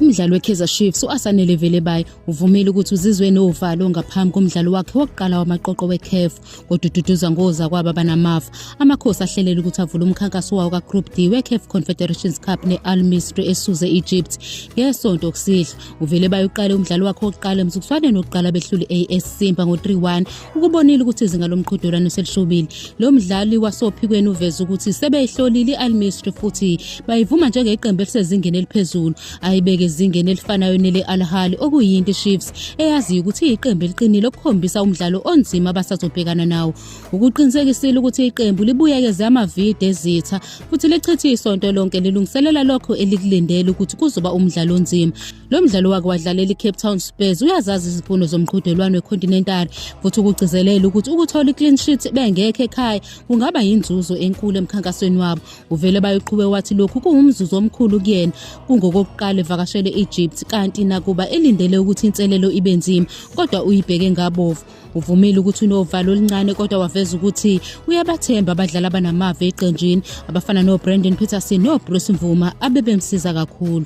Umdlali weKaizer Chiefs uAsanele Velebayi uvumile ukuthi uzizwe novalo ngaphambi komdlalo wakhe wokuqala wamaqoqo weCAF odududuza ngoza kwaba banamafa. Amakhosi ahlelela ukuthi avule umkhankaso wawo kaGroup D weCAF Confederations Cup neAl Misri esuze Egypt ngesonto okusihlwa. uvele bayoqala umdlalo wakhe wokuqala emzukuswaneni wokuqala behlule i-as simba ngo-3-1 ukubonile ukuthi izinga lomqhudelwano selishobile lo mdlali wasophikweni uveze ukuthi sebeyihlolile i-almistry futhi bayivuma njengeqembu elisezingeni eliphezulu ayibeke ezingeni elifanayo nele-alhali okuyinto ichiefs eyaziyo ukuthi iyiqembu eliqinile okukhombisa umdlalo onzima abasazobhekana nawo ukuqinisekisile ukuthi iqembu libuyekeze amavide ezitha futhi lichithe isonto lonke lilungiselela lokho elikulindele ukuthi kuzoba umdlalo onzima lo mdlalo wake wadlalela i-cape town spurs uyazazi izifundo zomqhudelwano wecontinental futhi ukugcizelela ukuthi ukuthola i-clean sheet bengekho ekhaya kungaba yinzuzo enkulu emkhankasweni wabo uvele bayoqhube wathi lokhu kuwumzuzu omkhulu kuyena kungokokuqala evakashele egypt kanti nakuba elindele ukuthi inselelo ibe nzima kodwa uyibheke ngabovu Uvumile ukuthi unovalo oluncane kodwa waveza ukuthi uyabathemba abadlali abanamava eqenjini abafana noBrandon Peterson noBruce Mvuma abebemsiza kakhulu.